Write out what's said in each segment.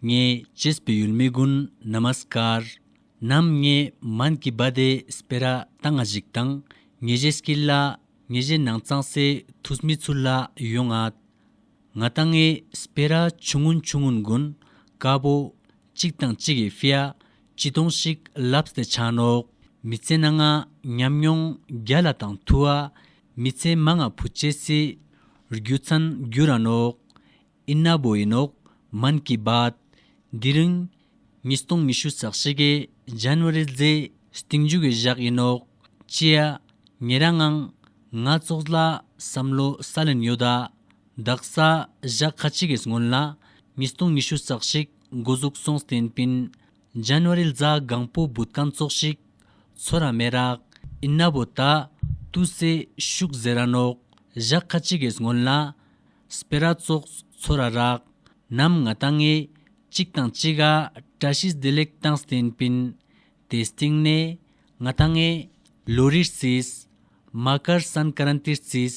ངས་ཇིས་པི་ཡུལ་མི་ཀུན་ན་མ་སི་ཀར། ནམ་ངས་མན་གི་བ་དེ་སི་པེ་ར་ཏང་ང་ཞིག་དང་ངས་ཞེ་སི་ཀི་ལ་ངས་ཞེ་ནང་ཙང་སེ་ཐུས་མི་ཚུ་ལ་ཡོ་ང། ང་ཏང་ངས་སི་པེ་ར་ཆུ་ངུན་ཆུ་ངུན་གུན་ཀ་པོ། ཅིག་དང་གཅིག་གི་ཧྥི་ཡ་ཅི་ཏོང་ཞིག་ལབས་སྟེ་ཆ་ནོག་མི་ཚེ་ན་ང་ཉམས་མྱོང་བརྒྱ་ལ་དང་ཐུ་བ་མི་ཚེ་མ་ང་བུ་བཅས་སི་རྒྱུ་ཚན་རྒྱུ་ར་ནོག་ཨིན་ན་བོ་ཡིན་ནོག་མན་གི་བཱད། འདི་རིང། ཉིས་སྟོང་ཉི་ཤུ་སག་བཞི་གི January རྫི། སྟེང་རྒྱུད་ཀྱི་བཞག་ཡིན་ནོག་ཅེ། ངེད་རང་ཨང། ང་ཙོགས་ལ་བསམ་བློ་ས་ལེན་ཡོད་ད། བདག་ས་བཞག་ཁ་ཅིག་གིས་སྔོན་ལ། ཉིས་སྟོང་ཉི་ཤུ་སག་བཞི་འགོ་གཟུགས་སོང་སྟེན་པིན། January རྫ་སྒང་པོ་འབུད་རྐང་བཙོག་ཤིག། ཚོ་ར་མེ་རག། ཨིན་ན་བོ་ད། ཏུ་སེ། ཤུག་ཟེ་ར་ནོག། བཞག་ཁ་ཅི་གེས་སྔོན་ལ། སྤེ་ར་བཙོག། ཚོ་ར་རག། ནམ་ང་ད་ངེ། ཅིག་དང་ཅི་ག། བཀྲ་ཤིས་བདེ་ལེགས་དང་སྟེན་པིན། དེ་སྟེང་ནས། ང་ད་ངེ། ལོ་རིར་བརྩིས། མ་ཀར་སན་ཀ་རན་ཏིར་བརྩིས།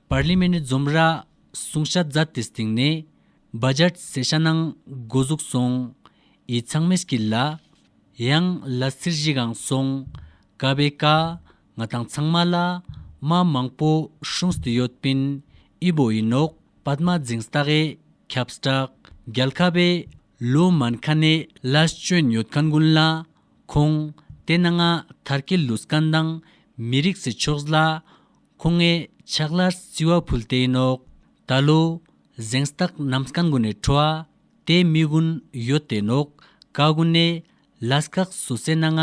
པར་ལི་མེ་ནི་འཛོམས་ར་སུང་ཤ་ཛ་ཏི་སྟེང་ནས་སྦ་ཇར་སེ་ཤ་ནང་སྒོ་ཟུག་སོང་ཡི་ཚང་མེས་ཀི་ལ་ཡང་ལ་སིར་བཞི་གང་སོང་ཀ་བའི་ཀ་ང་དང་ཚང་མ་ལ་མ་མང་པོ་ཧྲུངས་ཏི་ཡོད་པིན་ཨི་བོ་ཡིན་ནོག་པད་མ་རྫིང་སྟ་གའི་ཁབ་སྐྲག་རྒྱལ་ཁ་བའི་ལོ་མན་ཁ་ནས་ལ་སྐྱོན་ཡོད་ཁ་འགུན་ལ་ཁོང་དེ་ན་ང་ཐར་ཀི་ལུས་ཀ་འདང་མི་རིགས་སི་ཕྱོགས་ལ་ཁོ་ངའི་ཕྱག་ལྷར་བརྩི་བ་ཕུལ་ཏེ་ནོག་ད་ལོ། གཟེངས་རྟགས་ནམ་སྐལ་མགོན་ནས་འཕྲོ་བ་དེ་མི་དགུན་ཡོད་དེ་ནོག་ག་དགུན་ནས་ལ་སྐག་སུ་བསད་ན་ང་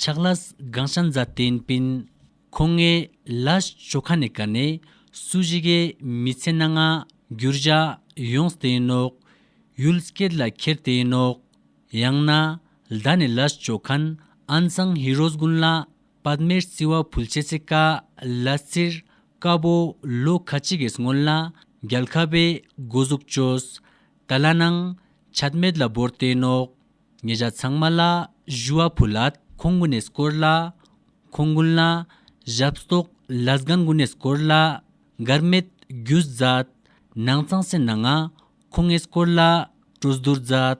ཕྱག་ལྷ་སྒང་ཤ་མཛའ་བསྟན་སྤིན། ཁོ་ངའི་ལ་ཞོ་ཁ་ནས་ག་ནས་སུ་བཞི་གས་མི་ཚད་ན་ང་འགྱུར་བཞག་ཡོངས་དེ་ནོག་ཡུལ་སྐད་ལ་ཁྱེར་དེ་ནོག་ཡང་ན་ལྡ་ནས་ལ་ཞོ་ཁན་ཨན་ཚང་ཧི་རོ་སྒུན་ལ་བར་མེར་བརྩི་བ་ཕུལ་བྱེད་ཚེ་ཀ་ལ་བཙིར། དཀར་པོ་ལོ་ཁ་ཅིག་གིས་སྔོན་ལ་རྒྱལ་ཁ་བས་སྒོ་གཟུགས་བཅོས། ད་ལ་ནང་ཆད་མེད་ལ་བོར་ཏེ་ནོག། ཉེ་བཞག་ཚང་མ་ལ་བཞུ་བ་ཕུལ། ཁོང་དགུ་ནས་སྐོར་ལ་ཁོང་དགུན་ལ་ཞབས་གསོག་ལ་སྒང་དགུ་ནས་སྐོར་ལ་མགར་མེད་རྒྱུ་མཛད། ནང་ཚང་སེར་ནང་ང་ཁོང་ངས་སྐོར་ལ་སྤྲོ་བསྡུར་མཛད།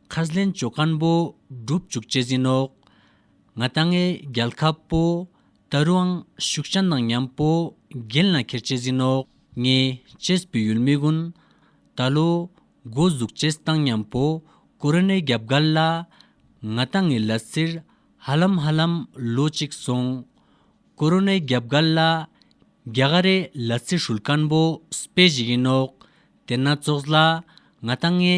ཁ་ཟླན་ལྕོ་སྐམ་པོ་སྒྲུབ་བཅུག་ལྕེ་ཟིན་ནོག། ང་རྟ་རྔའི་རྒྱལ་ཁ་པོ། རྟ་རུའང་ཤུག་བྱ་ནག་མཉམ་པོ། རྒྱན་ལ་ཁེར་ལྕེ་ཟིན་ནོག། ངས་ལྕེས་བུ་ཡུལ་མི་ཀུན། རྟ་ལོ། སྒོ་གཟུགས་ལྕེ་བཏང་མཉམ་པོ། ཀོ་རོ་ནའི་རྒྱབ་སྒར་ལ། ང་རྟ་རྔའི་ལ་སིར། ཧ་ལམ་ཧ་ལམ་ལོ་གཅིག་སོང། ཀོ་རོ་ནའི་རྒྱབ་སྒར་ལ། རྒྱ་གར་རའི་ལ་སིར་ཧྲུལ་སྐམ་པོ་སྤེལ་བཞིན་ཡིན་ནོག། དེ་ན་ཙོགས་ལ། ང་རྟ་རྔའི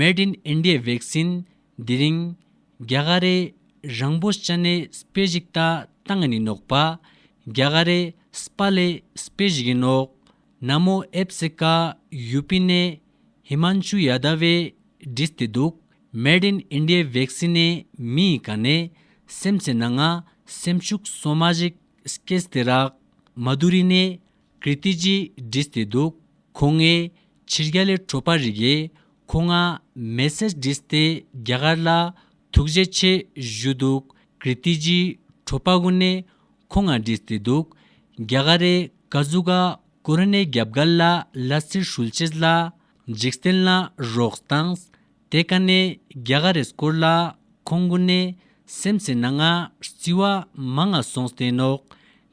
Made in India Vaccine འདི་རིང། རྒྱ་གར་རེ་རང་པོ་ཅཱ་ནེ་སྤེ་ཞིག་ད་ཏང་ནི་ནོག་པ། རྒྱ་གར་རེ་སྤ་ལེ་སྤེ་ཞིག་ཡིན་ནོག། ན་མོ་ཨེབ་སེ་ཀ་ཡུ་པི་ནེ་ཧི་མཱན་ཆུ་ཡ་དཱ་བའི་འདྲིས་ཏེ་འདུག Made in India Vaccine ནི་མི་ཡི་ག་ནེ་སེམས་ཚེ་ན་ང་སེམས་ཕྱུགས་སོ་མ་ཞིག་སྐེས་ཏེ་རག་མཱ་དུ་རི་ནེ་ཀིརྟི་སྤྱིའི་སྒྲིས་ཏེ་འདུག་ཁོ་ངའི་ཕྱིར་རྒྱ་ལས་འཕྲོས་པ་རིགས་རེད་ཁོ་ང་མེད་སའི་སྒྲིས་ཏེ་རྒྱ་གར་ལ་ཐུགས་རྗེ་ཆེ་ཞུས་འདུག་ཀིརྟི་སྤྱིའི་འཕྲོས་པ་དགུ་ནས་ཁོ་ང་སྒྲིས་ཏེ་འདུག་རྒྱ་གར་རེ་ག་ཟུག་ག་ཀོ་ར་ནའི་རྒྱབ་དགའ་ལ་ལ་སིར་ཧྲུལ་ཆེས་ལ་འཇིགས་སྟེན་ལ་རོགས་བཏངས་དེ་ག་ནས་རྒྱ་ག་རེས་བསྐོར་ལ་ཁོང་དགུ་ནས་སེམས་ཟེར་ན་ང་སྲིད་བ་མ་ང་སོང་སྟེ་ནོག་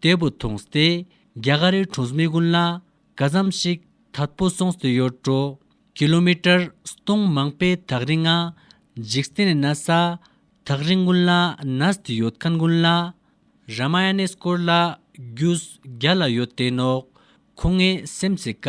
འདས་པོ་ཐོངས་ཏེ་རྒྱ་གར་རི་གྲོང་སྨི་དགུན་ལ་ག་ཙམ་ཞིག་ད་པོ་སོངས་ཏེ་ཡོད་འགྲོ་ཀི་ལོ་མི་ཀྲར་སྟོང་མང་པའི་ཐག་རིང་ང་འཇིགས་སྟེ་ནས་ན་ས་ཐག་རིང་དགུན་ལ་ནས་ཏེ་ཡོད་མཁན་དགུན་ལ་ར་མ་ཡ་ནས་སྐོར་ལ་རྒྱུས་བརྒྱ་ལ་ཡོད་དེ་ནོག་ཁོ་ངའི་སེམས་ཚེ་ཀ་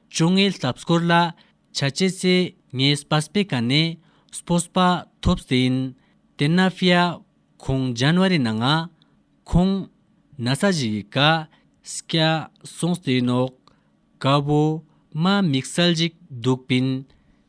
ཅོ་ངེ་ལྷབ་སྐོར་ལ་བྱ་བྱེད་ཚེ་ངེ་སྤ་སྤེ་ཀ་ནས་སྤོ་སྤ་ཐོབ་ཟེ་ཡིན་དེ་ན་ཕི་ཡ་ཁོང་ཇན་བ་རི་ན་ང་ཁོང་ན་ས་བཞི་གི་ཀ་སི་ཀ་སོང་ཟེ་ཡིན་ཨོག་ཀ་བོ་མ་མིག་སལ་འཇིག་འདུག་པིན་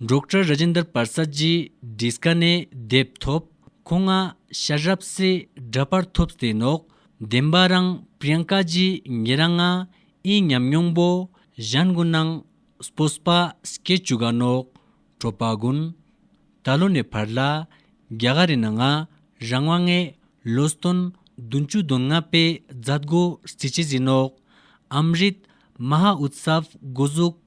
འབྲོག་གྲྭ་ར་ཇེན་དར་པར་ས་ཇི་དྲིས་ཀ་ནས་དེབ་ཐོབ་ཁོ་ང་ཤ་རབ་སེ་འདྲ་པར་ཐོབ་སྟེ་ནོག་བདེན་པ་རང་པྲིཡང་ཀ་ཇི་ངེ་ར་ང་ཨི་ཉམས་མྱོང་པོ་གཞན་དགུན་ནང་སྤོ་སྤ་སྐད་ཅུ་ག་ནོག་བྲོ་པ་དགུན་ད་ལོ་ནས་བར་ལ་རྒྱ་ག་རི་ན་ང་རང་བ་ངས་ལོ་སྟོན་བདུན་ཅུ་དོན་ལྔ་པའི་རྫ་དགོ་རྩི་ཆེ་ཟི་ནོག་ཨམ་རིད་མ་ཧ་ཨུད་སབ་དགོ་གཟུགས།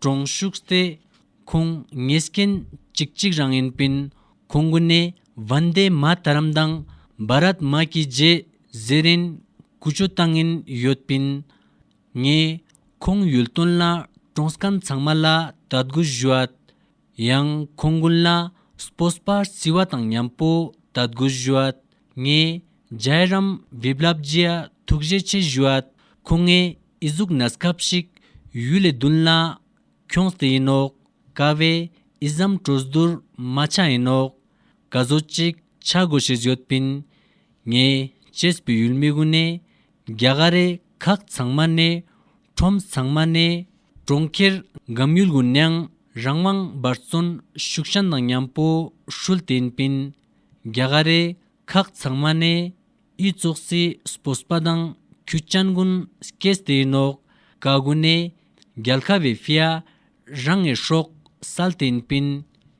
གྲོང་བཞུགས་ཏེ། ཁོང་ངེད་སྐྱེ་གཅིག་གཅིག་རང་ཡིན་པིན། ཁོང་དགུ་ནི་བན་དེ་མ་དྷ་རམ་དང་བྷ་རཱད་མ་ཀྱི་རྗེས་གཟེར་ཡིན། ཀུ་ཅོ་ཏང་ཡིན་ཡོད་པིན། ངས་ཁོང་ཡུལ་དོན་ལ་གྲོང་སྐམ་ཚང་མ་ལ་དད་གུ་བཞུ་ཨད། ཡང་ཁོང་ཀུན་ལ་སྤོས་པར་བརྩི་བ་དང་མཉམ་པོ་དད་དགུ་བཞུད། ངས་རྒྱལ་རམ་བེབ་ལབ་རྗེ་ཐུགས་རྗེ་ཆེ་བཞུད། ཁོང་ངའི་ཨི་གཟུགས་ན་སྐབས་ཤིག་ཡུལ་ལས་བདུན་ལ། ཁྱོངས་དེ་ཡིན་ནོ་དཀའ་བའི་ཨི་ཟམ་བྲོ་བསྡུར་མ་ཆག་ཡིན་ནོ། བཀའ་བཟོ་ཅིག་ཆག་དགོས་ཞེས་བརྗོད་པིན། ངས་བྱེས་པའི་ཡུལ་མི་དགུ་ནས་རྒྱ་གར་རེ་ཁག་ཚང་མ་ནས་ཁྲོམ་ཚང་མ་ནས་གྲོང་ཁྱེར་འགམ་ཡུལ་དགུ་ནས་རང་དབང་འབར་བརྩོན་ཤུགས་ཞན་དང་མཉམ་པོ་ཧྲུལ་བསྟན་པིན་རྒྱ་གར་རེ་ཁག་ཚང་མ་ནས་དབྱི་ཙོག་སི་སྤོ་སྤ་དང་ཁུ་སྤྱན་གུན་སྐེས་ཏེ་ནོག་ག་དགུ་ནས་རྒྱལ་ཁ་བེ་ཧྥི་ཡ་རང་ངས་ཧྲོག་སལ་བསྟན་པིན་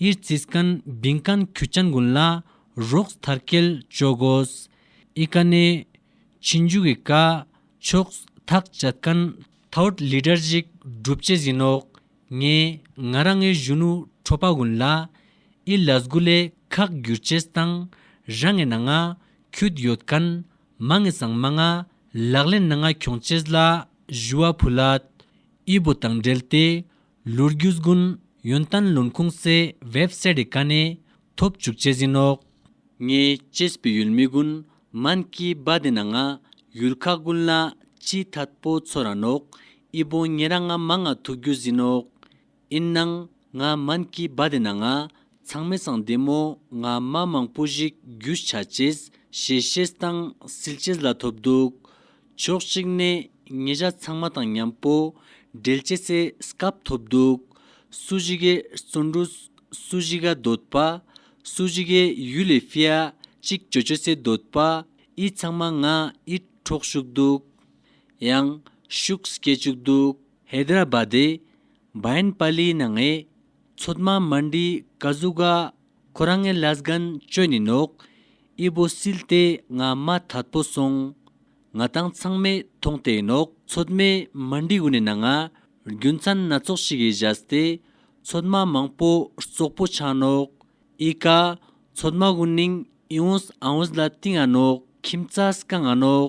ཨིར་ཙིས་ཀན་བིང་ཀན་ཁུ་ཅན་དགོན་ལ་རོགས་ཐར་སྐལ་ཅོ་དགོས། ཨི་ཀ་ནེ། ཕྱིན་བཅུ་གི་ཀ། ཕྱོགས་ཐག་བཅད་ཀན་ཐའོར་ལི་དྲར་གཞིག་སྒྲུབ་བྱེད་ཟིན་ནོ། ངས་ང་རང་ངའི་གཞོན་ནུ་ཁྲོ་པ་དགོན་ལ་ཨི་ལ་སྒུ་ལའི་ཁག་བསྒྱུར་བྱས་སྟངས་ར་ངའི་ན་ང་ཁྱུད་ཡོད་ཀན་མ་ངའི་སང་མ་ང་ལག་ལེན་ན་ང་གྱོང་བྱས་ལ་བཞུ་བ་བུ་ལ་ཨི་བོ་དང་འབྲེལ་ཏེ་ལུར་རྒྱུ་དགུན་ཡོན་ཏན་ལུང་ཁུངས་གསལ་བེབ་སེ་རི་ཀ་ནས་ཐོབ་བཅུག་བཅས་ཟིན་ནོག། ངས་སྤྱིས་པའི་ཡུལ་མི་དགུན་མན་གྱི་སྦ་དེ་ན་ང་ཡུལ་ཁ་དགུན་ལ་སྤྱིས་ཐད་པོ་ཚོ་ར་ནོག་ཨི་བོང་ངེ་ར་ང་མ་ང་ཐུག་རྒྱུ་ཟིན་ནོག་ཨིན་ནང་ང་མན་གྱི་སྦ་དེ་ན་ང་ཚང་མས་ཚང་བདེ་མོ་ང་མ་མང་པོ་ཞིག་རྒྱུ་ཆ་བྱེད་ཞེས་བཤད་སྟངས་སིལ་བྱེད་ལ་ཐོབ་འདུག་ཕྱོགས་གཅིག་ནས་ཉེ་ཆ་ཚང་མ་དང་མཉམ་པོ་འབྲེལ་བྱེད་སའི་སྐབས་ཐོབ་འདུག་སུ་ཞིག་གི་བརྩོན་འགྲུས་སུ་ཞིག་ག་འདོད་པ་སུ་ཞིག་གི་ཡུལ་ལས་ཧྥེ་ཨ་ཅིག་ཇོ་ཇོ་སའི་འདོད་པ་ཨི་ཚང་མ་ང་ཨི་འཕྲོག་ཞུགས་འདུག་ཡང་ཤུགས་སྐྱེ་བཅུག་འདུག། ཧེ་དར་ར་བྷ་དེ་བྷ་ཡན་པ་ལིའི་ནང་ཨེ་ཚོད་མ་མ་འདི་ག་གཟུགས་ག་ཁོ་རང་ངའི་ལས་གན་བཅོས་ནི་ནོག་ཨི་བོ་སིལ་ཏེ་ང་མ་ཐར་པོ་སོང་ང་དང་ཚང་མས་མཐོང་ཏེ་ནོག་ཚོད་མས་མ་འདི་གུ་ནི་ན་ང་རྒྱུ་མཚན་སྣ་ཚོགས་ཤིག་གིས་བཞད་སྟེ་ཚོད་མ་མང་པོ་ཙོག་པོ་ཆགས་ནོག་ཨི་ག་ཚོད་མ་གུ་ནིང་ཨི་འོང་ཨ་འོང་ལ་ཏིང་ཨ་ནོག་ཁྱིམ་ཙ་སྐ་ང་ནོག་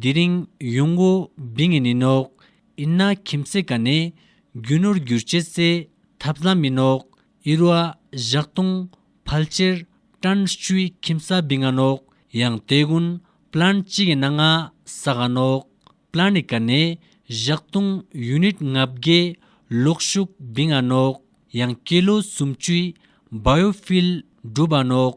དེ་རིང་ཡུང་ཝུའུ་བི་ངེ་ནི་ནོག་ཨིན་ན་ཁྱིམ་མཚེས་ཀ་ནས་རྒྱུ་ནོར་བསྒྱུར་བྱེད་རྩེ་ཐབས་ལམ་མི་ནོག་ཨིར་བ་བཞག་ཏུང་ཕལ་ཅེར་ཀྲན་ཧྲུའི་ཁྱིམ་ས་བི་ང་ནོག་ཡང་ཏའེ་གུན་པླན་ཅི་གི་ན་ང་ས་ག་ནོག་པླན་ནི་ཀ་ནས་བཞག་ཏུང་ཡུན་ནིད་ང་བརྒྱད་ལོག་ཤུག་བི་ང་ནོག་ཡང་ཀེ་ལོ་སུམ་ཅུའི་བ་ཡོ་ཕིལ་འབྲུ་བ་ནོག།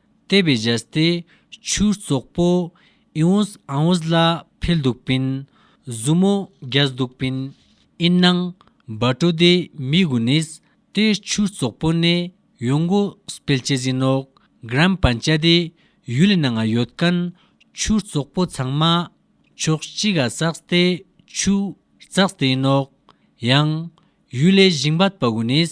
ལྟེ་བའི་གཞལ་ཏེ་ཆུའི་ཙོག་པུ། ཨིའུས་ཨཱུས་ལ་འཕེལ་འདུག་པིན། མཛུབ་མོ་རྒྱས་འདུག་པིན། ཨིན་ནང་སྦ་དྲོ་དེ་མི་གུ་ནིས་ཏེ་ཆུའི་ཙོག་པུ་ནས་ཡོང་གུ་སྤེལ་ཅེ་ཟིན་ནོ། གྲམ་པ་འཇའ་དེ་ཡུལ་ལི་ནང་ང་ཡོད་ཀན། ཆུའི་ཙོག་པུ་ཚང་མ་ཕྱོགས་གཅིག་ག་ཙགས་ཏེ་ཆུའི་ཙགས་དེ་ཡིན་ནོ། ཡང། ཡུལ་ལི་ཞིང་སྦ་དཔའ་གུ་ནིས་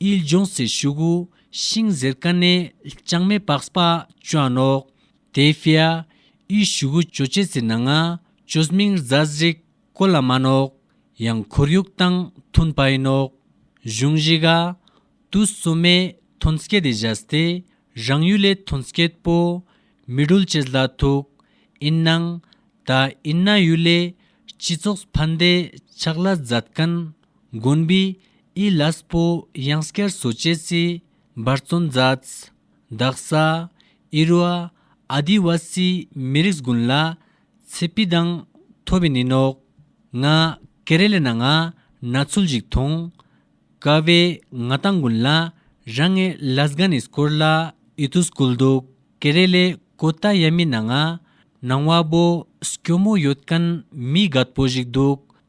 དབྱིལ་ལྗོངས་སེར་ཤུགས་ཤིང་གཟེར་དཀར་ནས་ལྕང་མའི་བག་སྤ་ཅོ་ནོག་དེའི་ཧྥེ་ཨ། དབྱིལ་ཤུགས་ཅོ་ཅེ་ཙི་ནང་ཨ་ཅོ་སྨིང་རྫ་གཟིག་ཀོ་ལ་མ་ནོག་ཡང་ཁོར་ཡུག་དང་ཐུན་པའི་ནོག་གཞུང་གཞིག་ཨ། དུ་སུ་མའི་ཐོན་སྐྱེད་དེ་བཞག་སྟེ་རང་ཡུལ་ལས་ཐོན་སྐྱེད་པོ་མི་སྒྲུལ་བྱེད་སླ་ཐུག་ཨིན་ནང་ད་ཨིན་ན་ཡུལ་ལས་སྤྱི་ཚོགས་ཕན་བདེ་ཆགས་སླ་མཛད་ཀན་མགོན་པོའི་ཨི་ལཱས་པོ་དབྱངས་སྐར་བཟོ་བྱེད་རྩིས་འབར་བཙོན་མཛད། འདག་ས། ཨི་རུ་ཨ། ཨཱ་དི་ཝཱ་སི་མི་རིགས་དགུན་ལ། ཚེ་སྤི་དང། ཐོ་བི་ནི་ནོག། ང། ཀེ་རེ་ལ་ན་ང། ན་ཚུལ་ཞིག་མཐོང། ཀ་བེ། ང་དང་དགུན་ལ། རང་ངས་ལཱ་སྒ་ནི་སྐོར་ལ་ཨི་ཏུ་སྐུལ་འདུག་ཀེ་རེ་ལའི་ཀོ་ཏ་ཡ་མི་ན་ང། ནང་བ་བོ་སྐྱོ་མོ་ཡོད་ཀན་མི་གད་པོ་ཞིག་འདུག་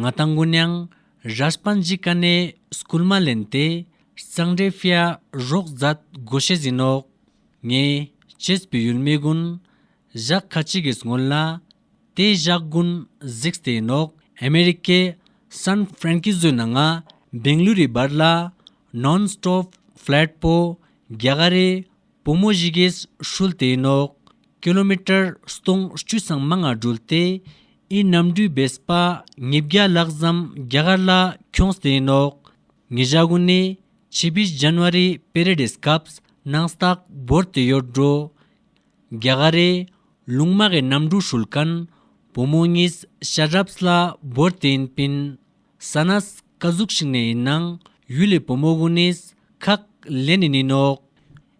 ང་དང་མགོན་གཡང་རཱས་པཱན་ཇི་ཀ་ནས་སྐུལ་མ་ལེན་ཏེ་གཙང་སྦྲའི་ཧྥེ་ཡ་རོགས་མཛད་སྒོ་བྱེད་བཞིན་འོག་ངས་བྱེད་པའི་ཡུལ་མི་ཀུན་བཞག་ཁ་ཅིག་གིས་སྔོན་ལ་དེ་བཞག་ཀུན་གཟིགས་དེ་ཡིན་འོག་ཨ་མེ་རི་ཀའི་སཱན་ཧྥེ་རན་ཀི་ཛོའི་ནང་ང་སྦེང་ལུ་རི་བར་ལ་ནོན་སྟོབ་ཧྥེ་ལེད་པོ་རྒྱ་གར་རི་བོ་མོ་བཞི་གིས་ཧྲུལ་དེ་ཡིན་འོག་ཀི་ལོ་མི་ཀྲར་སྟོང་བཅུ་ཚང་མ་ང་སྒྲོལ་ཏེ་ཨི་ནམ་འགྲུལ་བེ་སྤ་ཉིས་བརྒྱ་ལག་བཟའམ་རྒྱ་གར་ལ་ཁྱོང་ཟས་ནོག་ངི་ཇ་གུ་ནི་ཆི་བི་ཇན་བ་རི་པེ་རེ་དེས་སྐབས་ནང་སྟག་བོར་ཏི་ཡོར་འགྲོ་རྒྱ་ག་རེ་ལུང་མ་གི་ནམ་འགྲུལ་ཧྲུལ་ཀན་བུ་མོ་གཉིས་ཤ་རབས་ལ་བོར་ཏི་ཡིན་པིན་ས་ནས་ཀ་ཟུག་ཤིག་ནས་ཡིན་ནང་ཡུལ་ལི་བུ་མོ་གུ་ནིས་ཁག་ལེ་ནི་ནི་ནོག།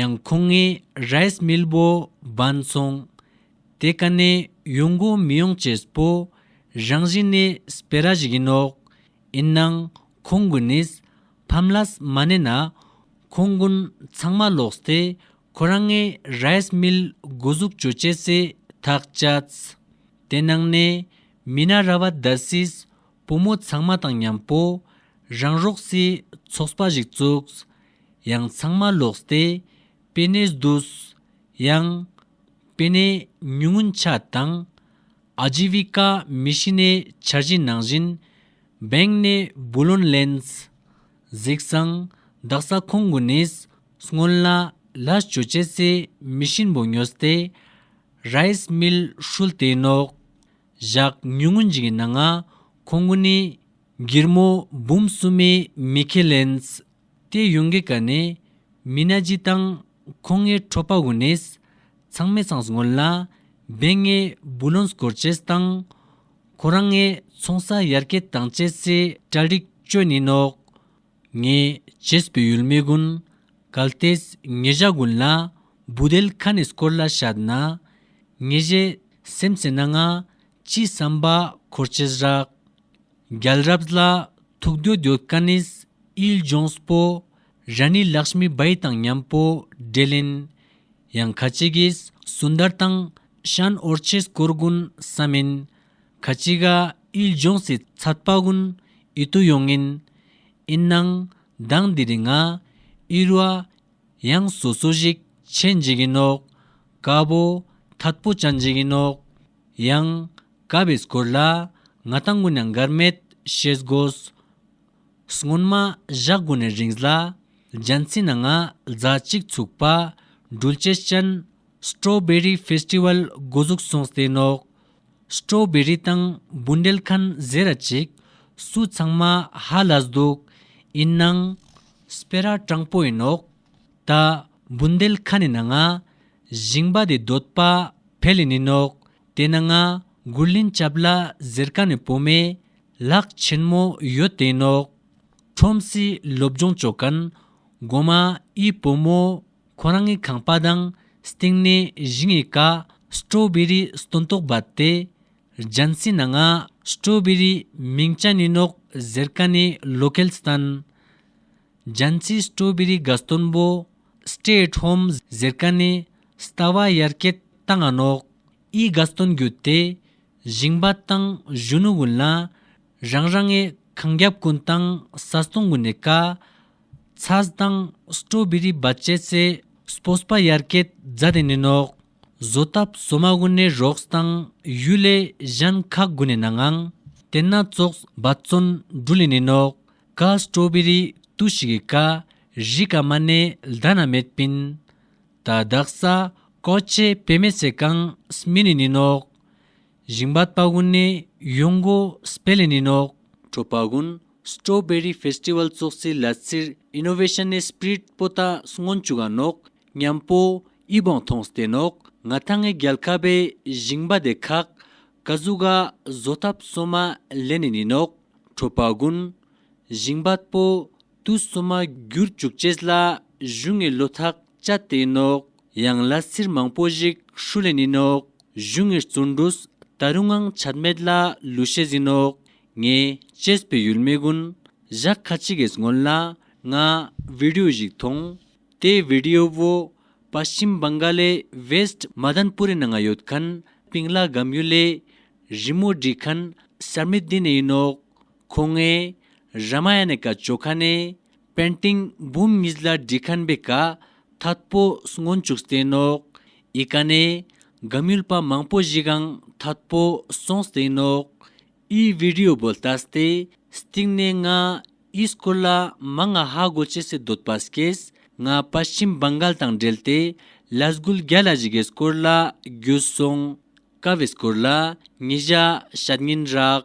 ཡང་ཁོང་ངས་རེས་མིལ་བོ་སྦངས་སོང། དེ་ག་ནས་ཡོང་གོ་མི་ཡོང་བཅས་སྤོ། རང་བཞིན་ནས་སྤེ་ར་ཞིག་ཡིན་ནོག། ཡིན་ནང་ཁོང་གི་ནིས་ཕམ་ལ་སི་མ་གནས་ན། ཁོང་དགུན་ཚང་མ་ལོག་སྟེ་ཁོ་རང་ངས་རེས་མིལ་དགུ་ཟུག་བྱོས་བཅས་སེ་ཐག་བཅད། དེ་ནང་ནས་མི་ན་ར་བ་ད་སིས་བུ་མོ་ཚང་མ་དང་མཉམ་པོ་རང་རོགས་སི་ཚོགས་པ་ཞིག་བཙུགས། ཡང་ཚང་མ་ལོགས་སྟེ་པེ་ནེས་བསྡུས། ཡང། པེ་ནེ་ཉུང་ངུ་འཆའ་དང། ཨ་ཇི་བི་ཀ་མི་ཤི་ནའི་འཆར་གཞི་ནང་བཞིན། བེང་ནེ་བུ་ལོན་ལེནས། གཟིགས་སང་བདག་ས་ཁོང་དགུ་ནིས་སྔོན་ལ་ལ་སྤྱོད་བྱེད་སའི་མི་གཤིན་པོ་ཉོས་ཏེ། རཱིས་མིལ་ཧྲུལ་དེ་ནོག། བཞག་ཉུང་ངུ་འཇིགས་ན་ང། ཁོང་ངུ་ནི། སྒེར་མོ་འབུམ་གསུམ་མའི་མི་ཁེ་ལེནས། ཏེ་ཡུང་གེ་ཀ་ནས། མི་ན་ཇི་དང། ཁོང་ངའི་ཁྲོ་པ་ཝུ་ནེས། ཚང་མས་ཚང་སྔོན་ལ། བན་ངའི་བུ་ལོན་སྐོར་བྱས་དང། ཁོ་རང་ངའི་ཚོང་ས་ཡར་སྐྱེད་དང་བཅས་སའི་གྲལ་རིགས་བཅོས་ནས་ནོག། ངས་བྱེས་པའི་ཡུལ་མི་ཀུན་གལ་ཏེ་ངེད་བཞག་དགོན་ལ་འབུ་དལ་ཁ་ནས་སྐོར་ལ་བཤད་ན་ངེད་བཞད་སེམས་ཟེར་ན་ང་ཅིའི་བསམ་པ་འཁོར་བྱེས་རག། རྒྱལ་རབས་ལ་ཐུག་འདོད་འདོད་དཀའ་ནས་དབྱིལ་ལྗོངས་སྤོ་ར་ནས་ལགས་སྨི་སྦའི་དང་མཉམ་སྤོ་རེ་ལེན། ཡང་ཁ་ཅིག་གིས་སུན་དར་དང་ཤན་ཨོར་བྱེས་སྐོར་དགོན་ས་མིན་ཁ་ཅི་ཀ་དབྱིལ་ལྗོངས་སི་ཚ་དཔའ་ཀུན་ཨི་ཏུ་ཡོང་ངིན་ཨིན་ནང་མདང་འདི་རི་ང་དབྱིལ་བ་ཡང་སོ་སོ་ཞིག་ཆེ་འཇིག་གིན་ནོག་ཀ་པོ་ཐད་པོ་ཅང་འཇིག་གིན་ནོག་ཡང་ཀ་པའི་སྐོར་ལ་ང་ད་ངུ་ན་འགར་མེད་ཤེས་དགོས་སྔོན་མ་བཞག་གོ་ནས་རིང་ལ་རྒྱ་མཚི་ན་ང་རྫ་གཅིག་ཚུགས་པ་སྦྲུལ་ཅེ་ཅན Strawberry Festival འགོ་འཛུགས་སོང་ཟེར་ནོག། Strawberry དང་འབུ་འབྲེལ་ཁན་ཟེར་ར་ཅིག། སུ་ཚང་མ་ཧ་ལས་འདུག། ཡིན་ནང། སྤེ་ར་སྤྲང་པོ་ཡིན་ནོག། ད། འབུ་འདེལ་ཁ་ནི་ན་ང། བཞིང་པ་དེ་འདོད་པ་བྷེ་ལི་ནི་ནོག། དེ་ན་ང་གུར་ལིན་སྐྱབས་ལ་ཟེར་ཀ་ནི་བོ་མེ། ལག་ཆེན་མོ་ཡོད་དེ་ནོག། ཁྲོམ་སི་སློབ་སྦྱོང་བྱོ་ཀན། སྒོ་མ་ཨི་བོ་མོ། ཁོ་རང་གི་ཁང་པ་དང་སྟེང་ནས་གཞི་ངས་ཀ་སྤྲོ་བེ་རི་སྟོན་ཏོག་བབས་ཏེ་རྒྱན་བསྲིངས་ན་ང་སྤྲོ་བེ་རི་མིང་ཅན་ཡིན་ནོག་ཟེར་ཀ་ནས་ལོ་གལ་བསྟན། རྒྱན་བསྲིངས་སྤྲོ་བེ་རི་དགའ་སྟོན་པོ Stay at home ཟེར་ཀ་ནས་ལྟ་བ་ཡར་སྐྱེད་བཏང་ང་ནོག་ཨི་དགའ་སྟོན་བརྒྱུད་དེ་བཞེངས་པ་དང་གཞོན་ནུ་དགུན་ལ་རང་རང་ངས་གངས་རྒྱབ་ཀུན་བཏང་ས་སྟོང་དགུ་ནས་ཀ། ཚ་གདང་སྤྲོ་བི་རི་སྦ་ཅད་ཚེ་སྤོ་སྤ་ཡར་ཀད་རྫ་སྟེ་ནས་ནོག། བཟོ་སྟབས་བཟོ་མ་དགུ་ནས་རོགས་སྟང་ཡུལ་ལས་གཞན་ཁག་དགུ་ནས་ན་ངང། དེ་ན་ཙོག་སྦ་བཙོན་འབྲུ་ལས་ནས་ནོག། ཀ་སྤྲོ་བི་རི་ཏུ་ཞི་གི་ཀ། རི་ཀ་མ་ནས་ལྡ་ན་མེད་པིན། ད་བདག་ས་ཀོ་ཅེ་བེ་མེ་ཚེ་ཀང་སྨི་ནས་ནི་ནོག། ཞིང་པ་སྤར་དགུན་ནི་གཡུང་གོ་སྤེ་ལི་ནི་ནོག། ཁྲོ་སྤར་དགུན Strawberry Festival ཙོག་ཙིའི་ལ་ཙིར Innovation ནི Spirit སྤོ་ཏྭ་སྔོན་བཅུ་ག་ནོག་ཉམས་སྤོ་དབྱི་སྦོང་ཐོང་སྟེ་ནོག་ང་ཐ་ངའི་རྒྱལ་ཁ་པའི་ཞིང་པ་དེ་ཁག་ག་གཟུགས་ག་བཟོ་ཐབས་སོ་མ་ལེ་ནི་ནི་ནོག་ཁྲོ་སྤར་དགུན། ཞིང་པ་སྤོ་ཏུ་སོ་མ་བསྒྱུར་བཅུག་ཅེས་ལ་བཞུགས་ངའི་བློ་ཐག་ལྕགས་སྟེང་ནོག་གཡང་ལ་སིར་མང་པོ་ཞིག་ཧྲུ་ལེ་ནི་ནོག་གཞུ་ངེར་བཙུར་འདུག་ད་རུང་ངང་ཆད་མེད་ལ་ལུས་ཤེས་ཟིན་ནོག་ངས་བཅས་པའི་ཡུལ་མི་ཀུན་བཞག་ཁ་ཅིག་གིས་སྔོན་ལ་ང་བི་དེའུ་ཞིག་མཐོང་དེ་བི་དེའུ་བོ་པ་ཤིམ་བང་ག་ལའི་བེསད་མ་དན་པུ་རི་ནང་ང་ཡོད་ཁན་པིང་ལ་སྒམ་ཡུལ་ལས་རི་མོ་བྲིས་ཁན་སར་མི་བདེ་ནི་ཡིན་ནོག་ཁོ་ངས་ར་མ་ཡ་ནི་ཀ་ཅོ་ཁ་ནས་པན་སྟེང་འབུམ་གཉིས་ལ་བྲིས་ཁང་པའི་ཀརྟྷ་པོ་སྔོན་བཅུག་སྟེང་ནོག། ཡི་ག་ནས། སྒམ་ཡུལ་པ་མང་པོ་བཞི་གང་ཐད་པོ་སོང་སྟེང་ནོག། ཨི་བི་རི་ཡོ་བོ་ལྟ་སྟེ་སྟེང་ནས་ལྔ། ཨི་སྐོར་ལ་མ་ལྔ་ཧ་གོ་ཅི་སི་དོད་པ་སྐེས་ལྔ་པ་ཤིམ་བང་གལ་དང་འབྲེལ་ཏེ་ལ་སྒུལ་བརྒྱ་ལ་བཞི་གའི་སྐོར་ལ་རྒྱུད་སོང། ཀ་བའི་སྐོར་ལ་ཉི་བཞག་ཞག་ཉིན་རག།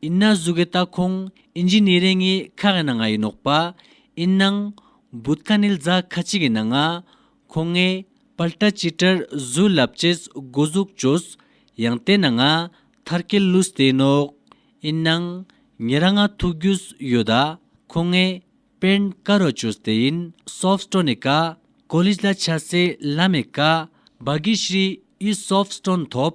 ཡིན་ན་གཟུགས་ཀྱི་ལྟ་ཁུངས་ཨིན་ཇི་ནི་རེ་ངའི་ཁ་གི་ནང་ང་ཡིན་ནོག་པ་ཨིན་ནང། བུད་ཁ་ནིལ་རྫ་ཁ་ཅིག་གི་ནང་ང། ཁོ་ངའི་པལ་ཏྲ་ཅི་ཏྲར་གཟུགས་ལབ་ཅེས་སྒོ་གཟུགས་བྱོས། ཡང་དེ་ནང་ང་ཐར་ཀེ་ལུས་དེ་ནོག་ཨིན་ནང། ངེད་རང་ང་ཐུག་རྒྱུས་ཡོད་ད་ཁོ་ངའི་པེན་ཀ་རོ་ཅོས་དེ་ཡིན་སོབས་སྟྲོ་ནི་ཀ་ཀོ་ལིས་ལ་ཆ་སེ་ལ་མེ་ཀ་བ་གི་ཤྲི་ཡིས་སོབས་སྟྲོ་ཐོབ།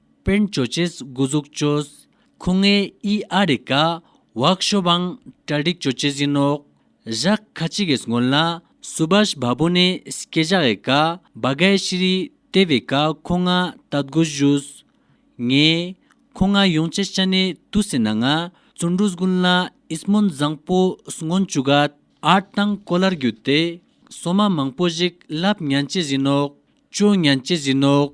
པིན་ཇོ་ཅེས་སྒུ་ཟུག་ཅོས། ཁུ་ངའི་ཨི་ཨ་རི་ཀ། བག་ཤོ་བང་ཏྲ་ཏིག་ཅོ་ཅེས་ཡིན་ནོག། ཞག་ཁ་ཅིག་གིས་སྔོན་ལ། སུ་བཱཤ་བ་བུ་ནི་སྐེ་ཞག་ཨེ་ཀ། བ་གའི་ཤི་རི་ཏེ་བི་ཀ་ཁུ་ང་ཏཱ་དགུ་བཞུས། ངས། ཁུ་ང་ཡུང་ཅེ་ཤ་ནི་ཏུ་སི་ན་ང་ཙུན་དྲུ་སྒུན་ལ་ཨིས་མོན་བཟང་པོ་སྔོན་ཅུ་ག། ཨར་གཏང་ཀོ་ལར་བརྒྱུད་དེ། སོ་མ་མང་པོ་ཞིག་ལབ་ཉན་ཅེས་ཡིན་ནོག། ཅོ་ཉན་ཅེས་ཡིན་ནོག།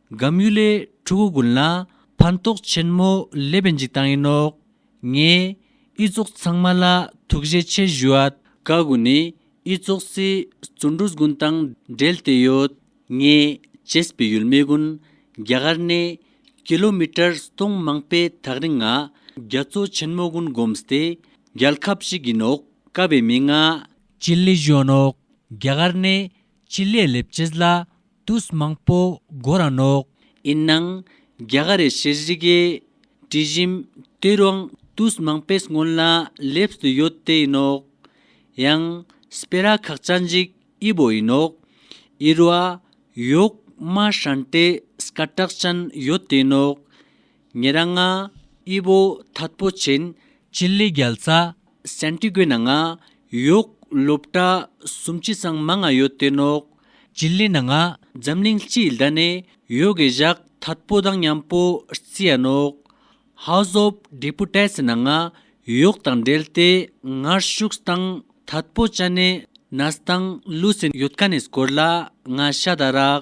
སྒམ་གཡུ་ལས་ཕྲུ་གུ་དགུན་ལ་ཕན་ཐོགས་ཆེན་མོ་སླེབས་པའི་འཇིགས་སྟངས་ཡིན་ནོ། ངས་དབྱི་ཙོག་ཚང་མ་ལ་ཐུགས་རྗེ་ཆེ་ཞུ་ཨ། ཀ་དགུ་ནི་དབྱི་ཙོག་སྲིད་བཙོན་འགྲོ་དགོན་དང་འབྲེལ་ཏེ་ཡོད། ངས་བྱེས་པའི་ཡུལ་མི་དགུན་རྒྱ་གར་ནས་ཀི་ལོ་མི་ཀྲར་སྟོང་མང་པའི་ཐག་རིང་ང་རྒྱ་མཚོ་ཆེན་མོ་དགུན་སྒོམས་ཏེ་རྒྱལ་ཁབ་ཅིག་ཡིན་ཨོ་ཀ་བའི་མི་ང། སྤྱི་ལེ་གཞོན་ཨོ། རྒྱ་གར་ནས་སྤྱི་ལས་ལེབ་ཅིས་ལ་དུས་མང་པོ་སྒོ་ར་ནོག། ཡིན་ནང་རྒྱ་གར་རེ་ཤི་རི་གའི་དྲི་བཞིན་དུས་རང་དུས་མང་པོས་སྔོན་ལ་ལེབས་སུ་ཡོད་དེ་ཡིན་ནོག། ཡང་སྤེ་ར་ཁག་ཅག་འཇིག་དབྱི་བོ་ཡིན་ནོག། ཡིར་བ་ཡོག་མ་ཧྲན་ཏེ་སྐ་ཏྲག་ཅན་ཡོད་དེ་ཡིན་ནོག། ཉེ་རང་ང་དབྱི་བོ་ཐད་པོ་ཆེན། སྤྱི་ལས་རྒྱལ་ཚ་སན་ཏི་གོའི་ནང་ང་ཡོག་སློབ་གྲྭ་སུམ་ཅི་སང་མ་ང་ཡོད་དེ་ནོག། ཅི་ལི་ན་ང་འཛམ་གླིང་སྤྱི་ལྡ་ནས་ཡོ་གའི་བཞག་ཐད་པོ་དང་མཉམ་པོ་རྩི་ཡ་ནོག། House of Deputets ནང་ང་ཡོག་དང་འབྲེལ་ཏེ་ངར་ཤུགས་སྟང་ཐད་པོ་ཅ་ནེ་ནས་སྟང་ལུ་སིན་ཡོད་ཀ་ནས་སྐོར་ལ་ང་ཤ་ད་རག་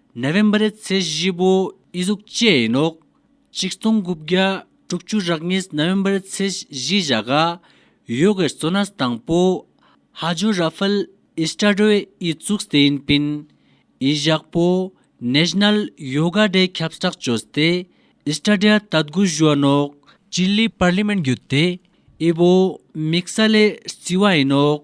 ནད་བེམ་རེད་ཚེ་བཞི་པོ་ཨི་གཟུགས་བཅས་ཡིན་ནོ། གཅིག་སྟོང་དགུ་བརྒྱ་དྲུག་ཅུ་རག་གཉིས་ནད་བེམ་རེད་ཚེ་བཞི་བཞག་ག་ཡོ་གའི་གཙོ་ནར་དང་པོ་ཧ་ཇོ་ར་ཧྥལ་ཨི་སྟ་རོས་ཨི་བཙུགས་སྟེ་ཡིན་པིན་ཨི་བཞག་པོ་ནེ་ཞི་ནལ་ཡོ་ག་རེད་ཁབ་སྟྲག་བཅོས་སྟེ་ཨི་སྟ་ར་ད་དགུ་བཞུ་བ་ནོ། ཅི་ལི་པར་ལི་མེན་བརྒྱུད་དེ་ཨི་བོ་མིག་ས་ལེ་རྩི་བ་ཡིན་ནོ།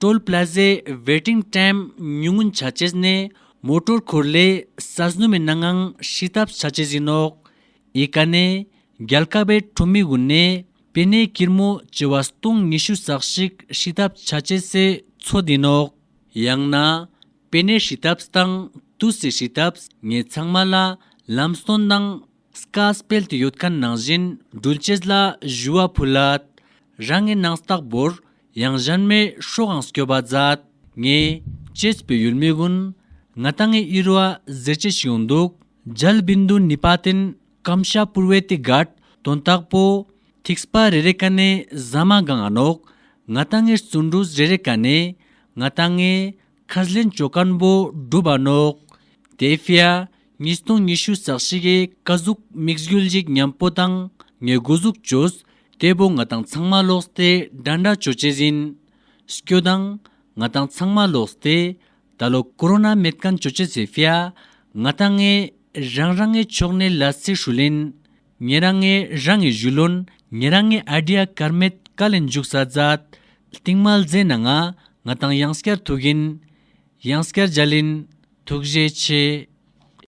Toll Plaza Waiting Time ཉུང་ངུ་འཆར་བྱེད་ནི་མོ་ཏོར་འཁོར་ལེ་ས་སྣོད་མི་སྣ་ངང་ཧྲིལ་ཐབས་འཆར་བྱེད་ཡིན་ནོ། ཨི་ཀ་ནི་རྒྱལ་ཁ་བའི་ཁྲོམ་མི་དབུས་ནས་པེ་ནེ་ཀིར་མོ་བྱེ་བ་སྟོང་ཉི་ཤུ་ཟག་ཞིག་ཧྲིལ་ཐབས་འཆར་བྱེད་སའི་ཚོ་དེ་ནོ། ཡང་ན་པེ་ནེ་ཧྲིལ་ཐབས་དང་ཏུ་སི་ཧྲིལ་ཐབས་ངས་ཚང་མ་ལ་ལམ་སྟོན་དང་སྐར་སྤེལ་དུ་ཡོད་མཁན་ནང་བཞིན་སྒྲུལ་བྱེད་ལ་བཞུ་བ་ཕུལ་ལ། རང་ངས་ནང་རྟགས་འབོར་ཡང་གཞན་མའི་ཤོག་ཨང་སྐྱོ་བ་མཛད། ངས། གཅེས་པའི་ཡུལ་མི་ཀུན། ང་ལྟ་ངའི་དབྱེར་བ་གཟེར་ཆེ་ཞིག་ཡོང་འདུག། རྒྱལ་བིན་དུ་ནི་བ་དན་སྐམ་ཤ་བུར་བས་ཏི་གར་དོན་རྟགས་པོ། ཐིགས་པ་རེ་རེ་ཀ་ནས་ཟ་མ་གང་ཨ་ནོག། ང་ལྟ་ངའི་བརྩོན་འགྲུས་རེ་རེ་ཀ་ནས། ང་ལྟ་ངའི། ཁ་ཟླའི་མཆོད་སྐམ་པོ་སྒྲུབ་ཨ་ནོག། དེ་ཧྥེ་ཨ། ཉིས་སྟོང་ཉི་ཤུ་ཟག་བཞི་ཀའི་ཀ་གཟུགས་དམིགས་ཡུལ་གཞིགས་ཉམས་པོ་དང་ངའི་དགུ་གཟུགས་ཇོས་སྐྱེས་པོ་ང་དང་ཚང་མ་ལོགས་སྟེ་འདྲ་འདྲ་བྱོས་བྱས་ཟིན། སྐྱོ་དང། ང་དང་ཚང་མ་ལོགས་སྟེ་ད་ལོ་ཀུ་རོ་ན་མེད་སྐམ་བྱོས་བྱས་ཟེར་ཧྥེ། ང་དང་ངས་རང་རང་ངའི་ཕྱོགས་ནས་ལ་ཚིག་ཧྲུལ་ལེན། ངས་རང་ངས་རང་ངས་བཞུ་ལོན་ངས་རང་ངས་ཨ་དྲི་ཨ་ཀར་མེད་དཀའ་ལས་མཇུག་ས་རྫ། རྟིང་མལ་རྫས་ན་ང་ང་དང་ཡང་སྐྱར་ཐུག་གིན། ཡང་སྐྱར་འཇལ་ལིན། ཐུགས་རྗེ་ཆེ།